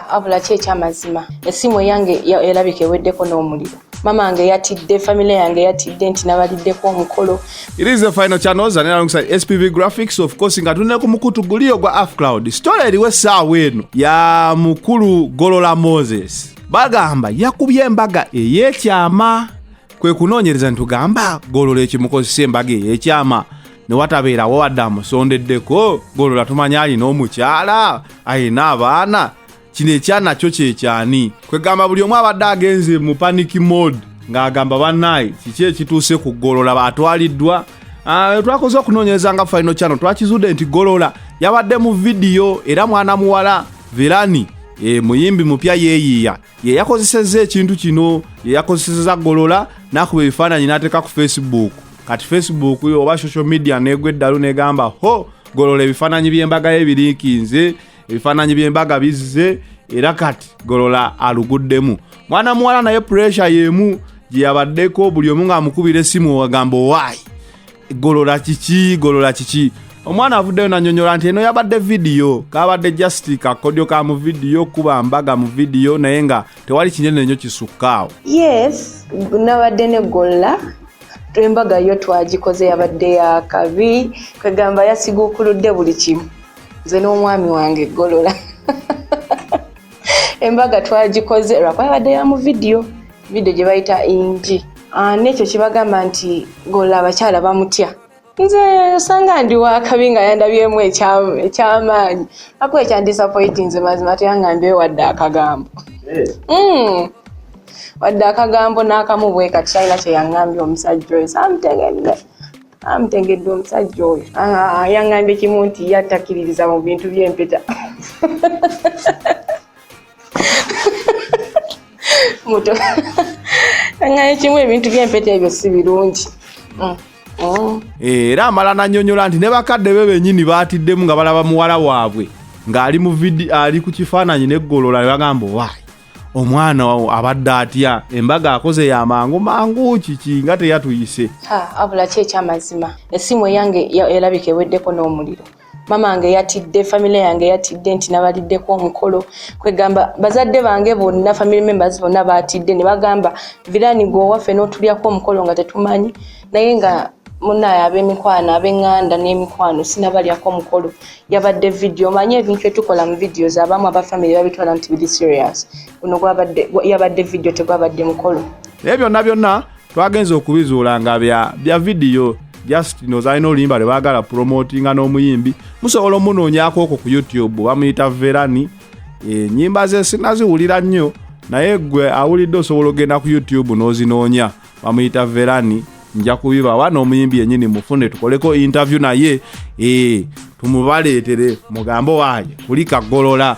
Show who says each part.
Speaker 1: abula ki ekyamazima esimu eyange erabika eweddeko n'omuliro mama wange yatidde famile yange yatidde nti nabaliddeko omukolo it is the final
Speaker 2: channels and alongside spv graphics of course nga tulina ku mukutu guliyo gwa af cloud story eriwo essaawa eno ya mukulu golola moses bagamba yakubye embaga ey'ekyama kwe kunoonyereza nitugamba golola ekimukozesa embaga ey'ekyama ne watabeerawo wadde amusondeddeko golola tumanya alina omukyala alina abaana kino ekyana kyo kyekyani kwegamba buli omu abadde agenze mu panic mode ng'agamba banaye kiki ekituuse ku golola batwaliddwa ah, twakoze okunoonyereza nga faino kyano twakizudde nti golola yabadde mu vidiyo era mwana muwala verani e, muyimbi mupya yeeyiiya ye yakozesezza ekintu kino ye yakozeseza golola n'akuba ebifaananyi n'ateeka ku facebook kati facebook yo oba social media neegwa eddalu negamba ho golola ebifaananyi by'embaga ye biriikinze ebifaananyi by'embaga bizze era kati golola aluguddemu mwana muwala naye puresha y'emu gye yabaddeko buli omu ng'amukubira essimu agamba owaayi golola kiki golola kiki omwana avuddeyo nanyonyola nti eno yabadde vidiyo kabadde just kakodyo ka mu vidiyo kuba mbaga mu vidiyo naye nga tewali kinene nyo kisukkaawo yes
Speaker 1: nabadde negolola embaga yo twagikoze yabadde yakabi kwegamba yasigukuludde buli kimu nze n'omwami wange golola embaga twagikoze lwakuba yabadde ya mu vidiyo video gye bayita inji ah, nekyo kibagamba nti golla abakyala bamutya nze osanga ndi wakabi nga yandabyemu ekyamaanyi ako ekyandisapoiti nze mazima teyanga mbe wadde akagambo eh. hmm. wadde akagambo n'akamu bwe kati talina kyeyangambye omusajja oyo samutegedde amutegedde omusajja oyo ah, yangambye kimu nti yatakiririza mu bintu by'empeta muto aŋŋaye kimu ebintu by'empeta ebyo si birungi mm. oh. eh,
Speaker 2: era amala nanyonyola nti ne bakadde be benyini baatiddemu nga balaba muwala waabwe ng'ali mu vidi ali ku kifaananyi neggolola ne bagamba owaayi omwana wawo abadde atya embaga akoze ya mangu mangu kiki nga teyatuyise abula ki
Speaker 1: ekyamazima esimu eyange elabika eweddeko n'omuliro mama wange yatidde family yange yatidde nti nabaliddeko omukolo kwegamba bazadde bange bonna family members bonna batidde ne bagamba virani gwe owaffe n'otulyako omukolo nga tetumanyi naye nga munaye ab'emikwano ab'eŋŋanda n'emikwano sinabalyako omukolo yabadde vidiyo omanye ebintu etukola mu vidiyo zabamu aba family babitwala nti biri serious guno yabadde vidiyo tegwabadde mukolo naye byonna byonna
Speaker 2: twagenze okubizuula nga bya bya vidiyo just nozalina oluyimba lwebagala promotinga n'omuyimbi musobola omunoonyako okwo ku youtube bamuyita verani enyimba eh, ze sinaziwulira nnyo naye gwe awulidde osobola ogenda ku youtube n'ozinoonya bamuyita verani nja kubibawa n'omuyimbi yenyini mufune tukoleko interview naye eh, tumubaleetere mugambo waaye kulika golola